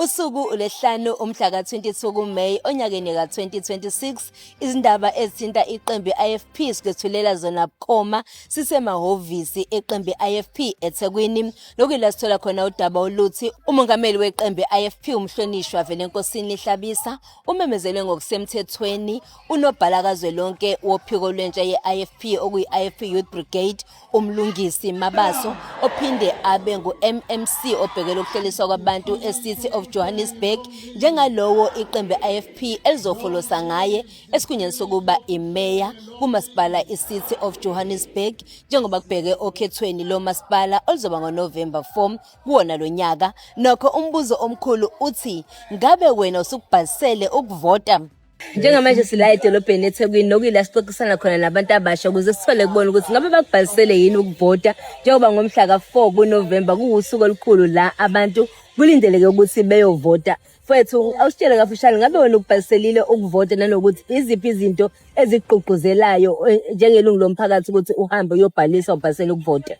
Usuku uLesihlanu umhla ka-22 kuMeyi onyakeni ka-2026 izindaba ezithinta iqembu i-IFP sikwethulela zona bukhoma sisemahhovisi eqembu i-IFP eThekwini nokuyila sithola khona udaba oluthi umongameli weqembu i-IFP umhlonishwa Velenkosini Hlabisa Umemezele ngokusemthethweni unobhala kazwelonke wophiko lwentsha ye-IFP okuyi-IFP Youth Brigade uMlungisi Mabaso ophinde abe ngu-MMC obhekele ukuhleliswa kwabantu e-City of Johannesburg njengalowo iqembu IFP elizofolosa ngaye esikhundleni sokuba imeya kumasipala i-City of Johannesburg njengoba kubheke okhethweni lomasipala oluzoba ngoNovember 4 kuwona lo nyaka. Nokho umbuzo omkhulu uthi ngabe wena usukubhalisele ukuvota? Njengamanje sila edolobheni eThekwini nokuyila sixoxisana khona nabantu abasha ukuze sithole kubona ukuthi ngabe bakubhalisele yini ukuvota njengoba ngomhla ka-4 kuNovemba kuwusuku olukhulu la abantu kulindeleke ukuthi beyovota. Mfwethu, awusitshele kafushane ngabe wena ukubhaliselile ukuvota nanokuthi iziphi izinto ezigqugquzelayo eh, njengelungu lomphakathi ukuthi uhambe uyobhalisa ubhalisele ukuvota?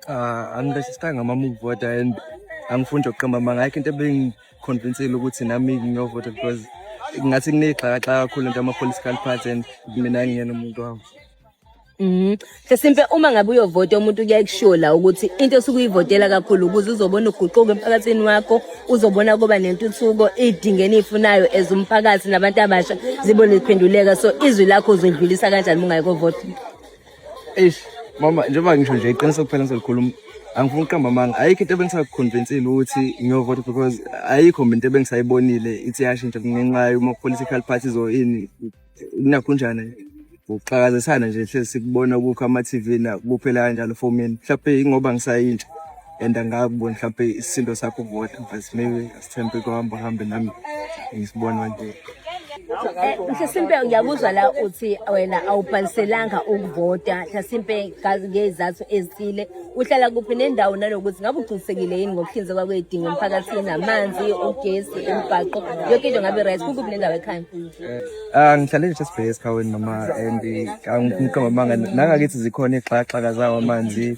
uh, angiregistranga amamuvota and angifuni ukuqamba amanga ayikho into ebingiconvinsile ukuthi nami ngiyovota because ngathi kuneyixhakaxhaka kakhulu into ama-political party and mina ngiyena umuntu wabo Mm. Sesimpe uma ngabe uyovota umuntu kuyakushiwo la ukuthi into osuke uyivotela kakhulu ukuze uzobona uguquko emphakathini wakho, uzobona kuba nentuthuko idinge enifunayo as umphakathi nabantu abasha zibo liphenduleka so izwi lakho uzodlulisa kanjani mungayiko vote. eish mama njengoba ngisho nje iqiniso kuphela ngizolikhuluma angifuni ukuqamba amanga ayikho into ebengisakukhonvinsile ukuthi ngiyovota because ayikho mina into ebengisayibonile ithi yashintsha ngenxa yoma-political parties or ini kunakhunjani ukuxakazisana nje hlezi sikubona kukho ama-tv na kuphela kanjalo for mina mhlawumbe yingoba ngisayintsha and angakuboni mhlawumpe isisindo sakho vota but maybe asithembe kuhamba uhambe nami ngisibona nje eh, mhlasimpe ngiyakuzwa la uthi wena awubhaliselanga ukuvota mhlasimpe ngezizathu ezithile uhlala kuphi nendawo nanokuthi ngabe uqinisekile yini ngokuhlinzekwa kwedingo emphakathini amanzi ugesi imibhaqo yonke into ngabe right kukuphi nendawo ekhaya eh, Ah ngihlale nje sibheke esikhaweni noma and angiqoma manga nangakithi zikhona ixhaxhaka zawo amanzi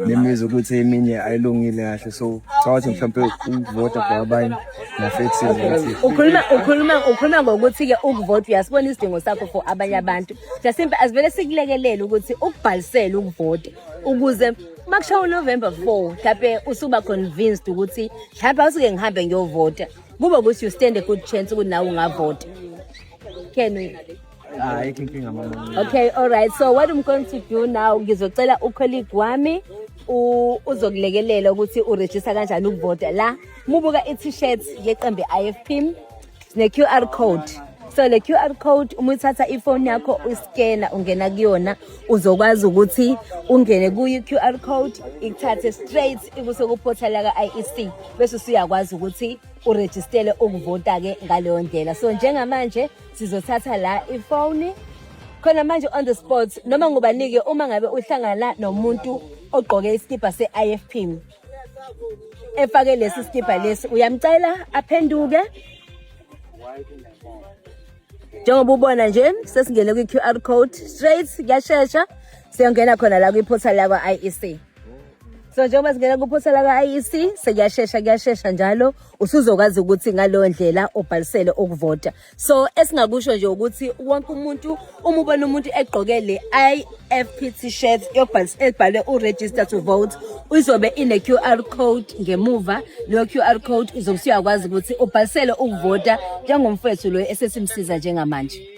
nemizi ukuthi eminye ayilungile kahle so cawathi mhlawumbe ukuvota for abanye nafethi ukhuluma ukhuluma ukhuluma ngokuthi ke ukuvota uyasibona isidingo sakho for abanye abantu mhlawumbe asivele sikulekelele ukuthi ukubhalisele ukuvota ukuze makushawa uNovember 4 mhlawumbe usuba convinced ukuthi mhlawumbe awusuke ngihambe ngiyovota Kube ukuthi you stand a good chance ukuthi nawe ungavota. Can we? Hayi inkinga mama. Okay, all right. So what I'm going to do now ngizocela ucolleague wami u- uzokulekelela ukuthi uregister kanjani ukuvota la mubuka i-t-shirt yeqembu i-IFP ne-QR code so le QR code uma uthatha ifoni yakho uyiskena ungena kuyona uzokwazi ukuthi ungene kuyi-QR code ikuthathe straight ikuse kuphotha laka IEC bese usuyakwazi ukuthi urejistele ukuvota ke ngaleyo ndlela so njengamanje sizothatha la ifoni khona manje on the spot noma ngubanike uma ngabe uhlangana nomuntu ogqoke isikibha se-IFP efake lesi sikibha lesi uyamcela aphenduke njengoba ubona nje sesingene kwi-qr code straight kuyashesha siyongena khona la kwi-portal lakwa-iec so njengoba singena kwi-portal lakwa-iec sekuyashesha kuyashesha njalo usuzokwazi ukuthi ngaleyo ndlela ubhalisele ukuvota so esingakusho nje ukuthi wonke umuntu uma ubona umuntu egqoke le FP t-shirt ebhalwe uregister to vote izobe ine-QR code ngemuva leyo QR code uzobe usuyakwazi ukuthi ubhalisele ukuvota njengomfethu loyo esesimsiza njengamanje